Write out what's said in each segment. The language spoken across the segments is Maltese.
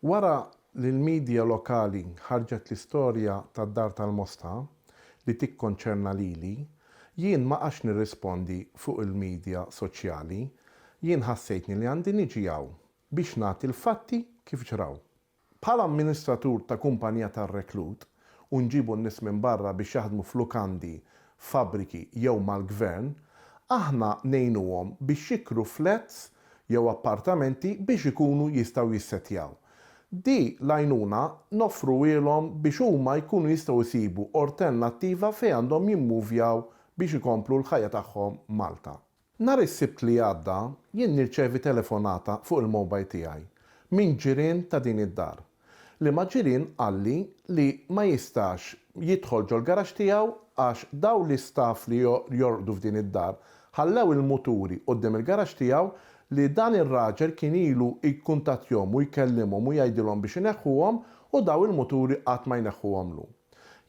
Wara li l-midja lokali ħarġet l-istorja tad-Dar tal-Mosta, li tikkonċerna lili, jien ma qgħadtx nirrispondi fuq il-midja soċjali. Jien ħassejtni li għandi niġi hawn biex nagħti l-fatti kif ġraw. Bħala amministratur ta' kumpanija tar-reklut u nġibu n-nies minn barra biex jaħdmu f'lukandi, fabbriki jew mal-Gvern, aħna ngħinuhom biex jikru flats jew appartamenti biex ikunu jistgħu jissettjaw. Di l-għajnuna noffruhielhom biex huma jkunu jistgħu jsibu ortennattiva fejn għandhom jimmuvjaw biex ikomplu l-ħajja tagħhom Malta. Nhar is-Sibt li għadda jien nirċevi telefonata fuq il-mobile tiegħi minn ġirien ta' din id-dar. Liema ġirien qalli li ma jistax jidħol ġol-garaxx tiegħu għax dawn l-istaff li jorqdu f'din id-dar ħallew il-muturi quddiem il-garaxx tiegħu li dan ir-raġel kien ilu jkuntattjhom u jkellimhom u jgħidilhom biex ineħħuhom u dawn il-muturi qatt ma jneħħuhomlu.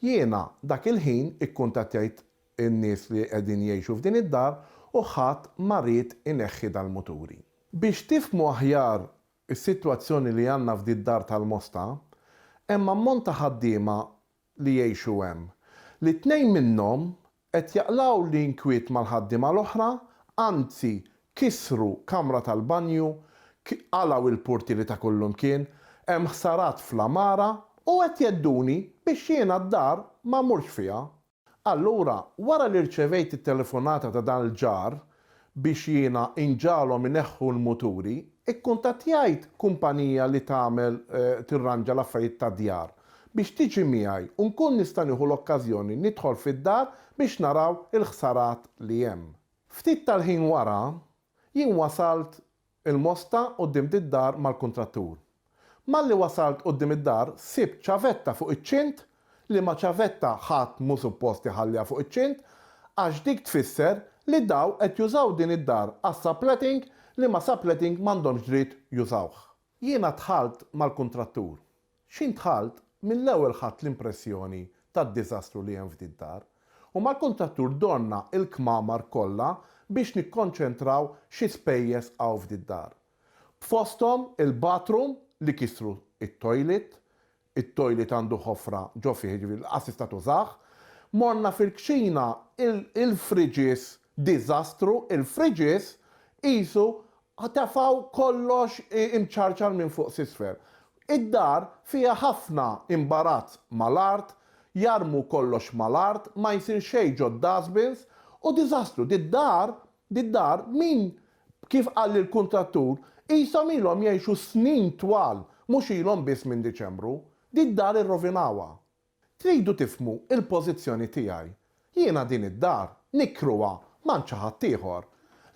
Jiena dak il-ħin ikkuntattjajt in-nies li qegħdin jgħixu f'din id-dar u ħadd ma ried ineħħi dal-muturi. Biex tifhmu aħjar is-sitwazzjoni li għandna f'did-dar tal-Mosta, hemm ammont ta' ħaddiema li jgħixu hemm, li tnejn minnhom qed jaqlgħu l-inkwiet mal-ħaddiema l-oħra, anzi kissru kamra tal-banju, qalgħu l-purtieri ta' kullimkien, hemm ħsarat fl-għamara u qed jghedduni biex jiena d-dar ma mmurx fiha Allura, wara li rċevejt it-telefonata ta' dan l-ġar biex jiena inġagħalhom ineħħu l-muturi, ikkuntattjajt kumpanija li tagħmel tirranġa l-affarijiet tad-djar biex tiġi miegħi u nkun nista' nieħu l-okkażjoni nidħol fid-dar biex naraw il-ħsarat li hemm. Ftit tal-ħin wara, jien wasalt Il-mosta quddiem d-dar mal-kuntrattur. Malli wasalt quddiem id-dar sibt ċavetta fuq iċ-ċint, liema ċavetta ħadd mhu suppost iħalliha fuq iċ-ċint għax dik tfisser li daw qed jużaw din id-dar għas-subletting liema subletting m'għandhomx dritt jużawh. Jiena dħalt mal-kuntrattur. X'int dħalt mill-ewwel ħadt l-impressjoni tad-diżastru li hemm f'din dar, u mal-kuntrattur dorna l-kmamar kollha biex nikkonċentraw xi spejjeż hawn f'din dar. B'fosthom il-bathroom li kisru t-toilet, it-toilet għandu ħofra ġo fih jiġifieri lanqas tista' tużah, morna fil-kċina il-fridges Diżastru, il-fridges qisu tefgħu kollox imċarċar minn fuq s'isfel. Id-dar fiha ħafna imbarazz mal-art, jarmu kollox mal-art, ma jsir xejn ġod-dustbins, u diżastru. Did-dar, did-dar, min, kif qalli l-kuntrattur, qishom ilhom jgħixu snin twal, mhux ilhom biss minn Diċembru. Did-dar irrovinawha. Tridu tifhmu l-pożizzjoni tiegħi. Jiena din id-dar nikkruha m'għand xi ħadd ieħor.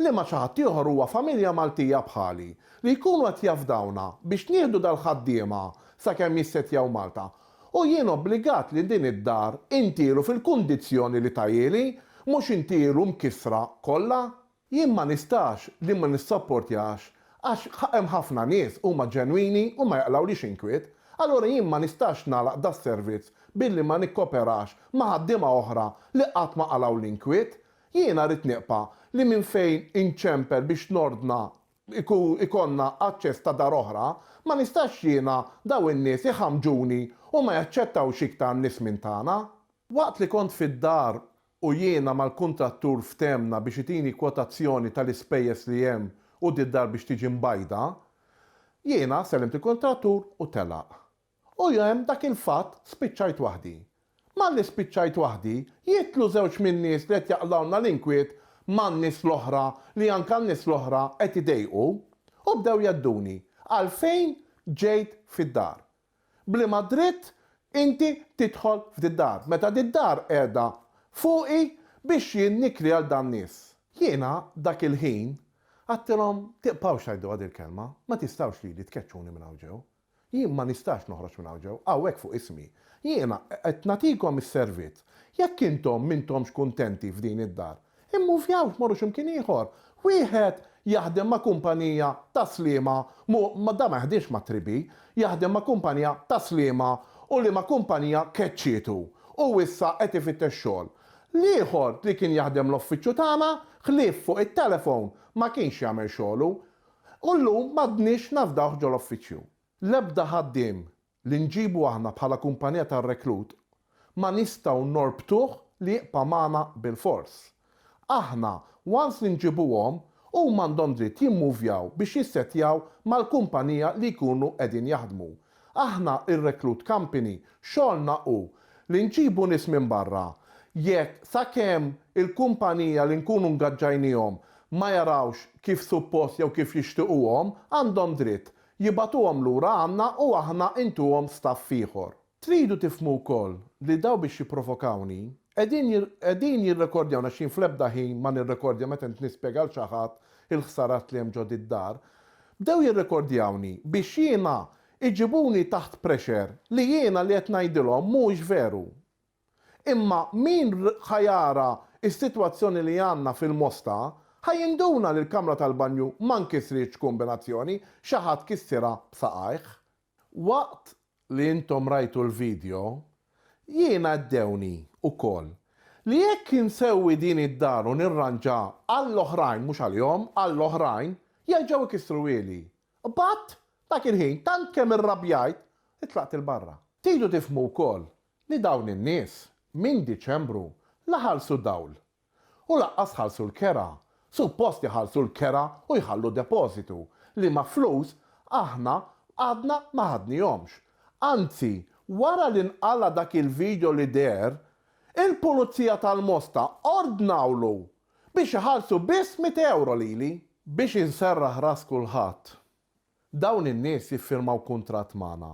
Liema xi ħadd ieħor huwa familja Maltija bħali, li jkunu qed jafdawna biex nieħdu dal-ħaddiema sakemm jissettjaw Malta, u jien obbligat li din id-dar intielu fil-kundizzjoni li tahieli, mhux intielu mkissra kollha? Jien ma nistax li ma nissopportjax għax hemm ħafna nies huma ġenwini u ma jaqlgħulix inkwiet. Allura jien ma nistax nagħlaq das-servizz billi ma nikkoperax ma' ħaddiema oħra li qatt ma qalgħu l-inkwiet. Jiena rrid niqpa' li minn fejn inċempel biex nordna jkollna aċċess ta' dar oħra, ma nistax jiena dawn in-nies iħammġuni u ma jaċċettawx iktar nies minn tagħna. Waqt li kont fid-dar u jiena mal-kuntrattur fthemna biex itini kwotazzjoni tal-ispejjeż li hemm qudd id-dar biex tiġi mbajda, jiena sellimt il-kuntrattur u telaq. U hemm dak il-fatt spiċċajt waħdi. Malli spiċċajt waħdi, jidħlu żewġ min-nies li qed jaqlgħulna l-inkwiet man-nies l-oħra li anka n-nies l-oħra qed idejqu u bdew jgħedduni għalfejn ġejt fid-dar. B'liema dritt inti tidħol f'did-dar, meta did-dar qiegħda fuqi biex jien nikri għal dan-nies? Jiena dak il-ħin għadtilhom, Tiqbgħux tgħiduha dil-kelma, ma tistgħux lili tkeċċuni minn hawn ġew. Jien ma nistax noħroġ minn hawn ġew, hawnhekk fuq ismi. Jiena qed nagħtikom is-servizz. Jekk intom m'intomx kuntenti f'din id-dar, Immuvjaw tmorru xi mkien ieħor. Wieħed jaħdem ma' kumpanija ta' sliema, mhu, dan ma jaħdimx mat-tribi, jaħdem ma' kumpanija ta' sliema u liema kumpanija keċċietu u issa qed ifittex xogħol. L-ieħor li kien jaħdem l-offiċċju tagħna, ħlief fuq it-telefon, ma kienx jagħmel xogħlu. U llum m'għadniex nafdawh ġol-offiċċju. L-ebda ħaddiem li nġibu aħna bħala kumpanija tar-reklut ma nistgħu norbtuh li jibqa' magħna bilfors. Aħna once li nġibuhom huma għandhom dritt jimmuvjaw biex jissettjaw mal-kumpanija li jkunu qegħdin jaħdmu. Aħna r-reklut company xogħolna hu li nġibu nies minn barra jekk sakemm il-kumpanija li nkunu ngaġġajniehom ma jarawx kif suppost jew kif jixtiquhom għandhom dritt Jibagħtuhom lura għandna u aħna intuhom staff ieħor. Tridu tifhmu wkoll li dawn biex jipprovokawni, qegħdin qegħdin jirrekordjawni għax jien fl-ebda ħin ma nirrekordja meta int nispjega lil xi ħadd il-ħsarat li hemm ġo did-dar. Bdew jirrekordjawni biex jiena iġibuni taħt pressure li jiena li qed ngħidilhom mhuwiex veru. Imma min ħa jara s-sitwazzjoni li għandna fil-Mosta ħa jinduna li l-kamra tal-banju ma nkisritx kombinazzjoni, xi ħadd kissirha b'saqajh. Waqt li intom rajtu l-video, jien għaddewni wkoll li jekk insewwi din id-dar u nirranġa għall-oħrajn, mhux għalihom, għall-oħrajn, jerġgħu jkissruhieli. B'għadd, dak il-ħin, tant kemm irrabjajt, li tlaqt 'il barra. Tridu tifhmu wkoll li dawn in-nies minn Diċembru la ħallsu dawl u lanqas ħallsu l-kera, suppost iħallsu l-kera u jħallu depożitu, liema flus aħna għadna ma ħadnihomx. Anzi, wara li nqala' dak il-video li deher, il-Pulizija tal-Mosta ordnawlu biex iħallsu biss mitt ewro lili! Biex inserraħ ras kulħadd, Dawn in-nies jiffirmaw kuntratt magħna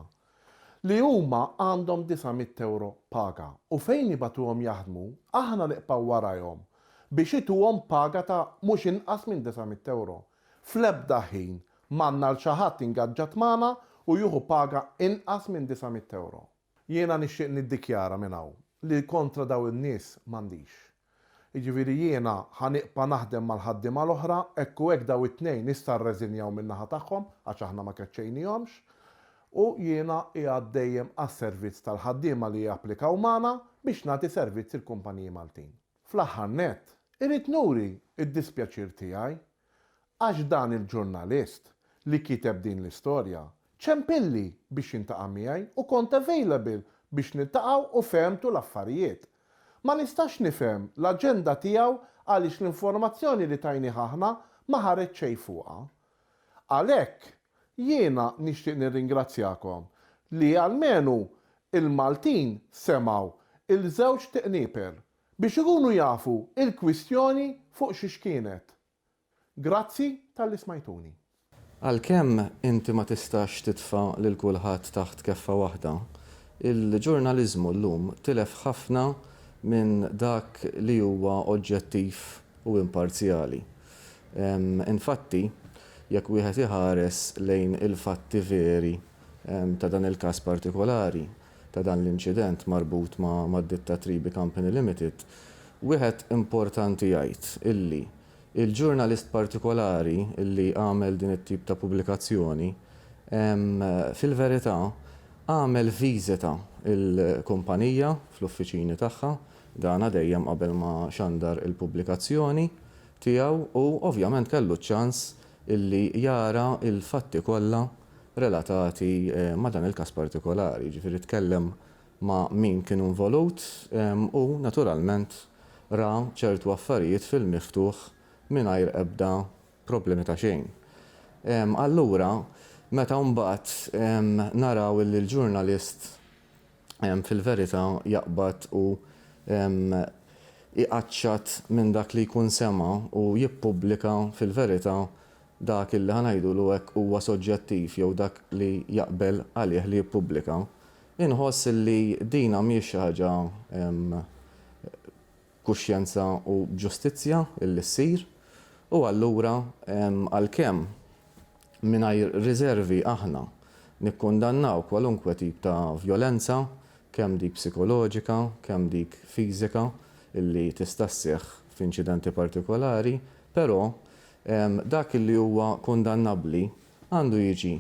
li huma għandhom disa' mitt ewro paga u fejn nibagħtuhom jaħdmu aħna niqpaw warajhom biex ituhom paga ta' mhux inqas minn disa' mitt ewro. Fl-ebda ħin m'għandna 'l xi ħadd ingaġġat magħna u jieħu paga inqas minn disa' mitt ewro. Jiena nixtieq niddikjara minn hawn li kontra dawn in-nies m'għandix. Jiġifieri jiena ħa nibqa' naħdem mal-ħaddiema l-oħra, hekk u hekk dawn it-tnejn issa rreżinjaw min-naħa tagħhom għax aħna ma keċċejnihomx, u jiena qiegħed dejjem għas-servizz tal-ħaddiema li japplikaw magħna biex nagħti servizz il-kumpaniji Maltin. Fl-aħħar nett, irrid nuri d-dispjaċir tiegħi Għax dan il-ġurnalist li kiteb din l-istorja ċempilli biex jiltaqa' miegħi u kont available biex niltaqgħu u fehmtu l-affarijiet. Ma nistax nifhem l-aġenda tiegħu għaliex l-informazzjoni li tajnieh aħna ma ħareġ xejn fuqha. Għalhekk jiena nixtieq nirringrazzjakom li almenu il-Maltin semgħu il-żewġ tiqnieper. biex ikunu jafu il-kwistjoni fuq xiex kienet. Grazzi talli smajtuni. Għalkemm inti ma tistax titfa' lil kulħadd taħt keffa waħda, il-ġurnaliżmu llum tilef ħafna minn dak li huwa oġġettiv u imparzjali. Infatti, jekk wieħed iħares lejn il-fatti veri ta' dan il-każ partikolari, ta' dan l-inċident marbut ma' ditta Tribi Company Limited, wieħed importanti jgħid illi il-ġurnalist partikolari illi għamel din it-tip ta' pubblikazzjoni fil-verità għamel viżita il-kumpanija fl-uffiċini tagħha, dana dejjem qabel ma xandar il-pubblikazzjoni tiegħu u ovvjament kellu ċ-ċans illi jara il-fatti kollha relatati ma' dan il-każ partikolari, jiġifieri tkellem ma' min kien involut u naturalment ra ċertu affarijiet fil-miftuħ mingħajr ebda problemi ta' xejn. Allura meta mbagħad naraw illi l-ġurnalist, fil-verità jaqbad u jqaċċat minn dak li jkun sema' u jippubblika fil-verità dak illi ħa ngħidulu hekk huwa soġġettiv jew dak li jaqbel għalih li jippubblika. Inħoss illi din mhijiex xi ħaġa kuxjenza u b'ġustizzja li ssir, u allura għalkemm mingħajr riżervi aħna nikkundannaw kwalunkwe tip ta' vjolenza, kemm dik psikoloġika, kemm dik fiżika li tista' sseħħ f'inċidenti partikolari, però dak li huwa kundannabbli għandu jiġi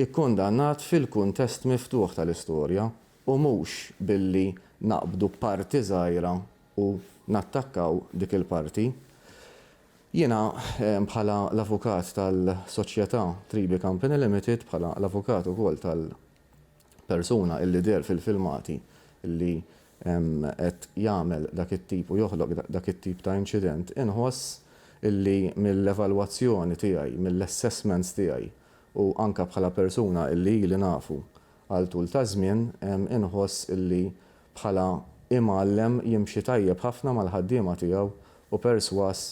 kkundannat fil-kuntest miftuħ tal-istorja u mhux billi naqbdu parti żgħira u nattakkaw dik il-parti. Jiena bħala l-avukat tal-soċjetà Tribi Company Limited, bħala l-avukat ukoll tal-persuna illi deher fil-filmati illi qed jagħmel dak it-tip u joħloq dak it-tip ta' inċident, inħoss illi mill-evalwazzjoni tiegħi, mill-assessments tiegħi u anke bħala persuna illi ili nafu għal tul ta' żmien, inħoss li bħala imgħallem jimxi tajjeb ħafna mal-ħaddiema tiegħu u persważ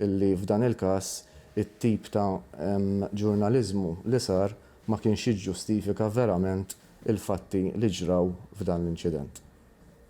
li f'dan il-każ it-tip ta' ġurnaliżmu li sar ma kienx jiġġustifika verament il-fatti li ġraw f'dan l-inċident.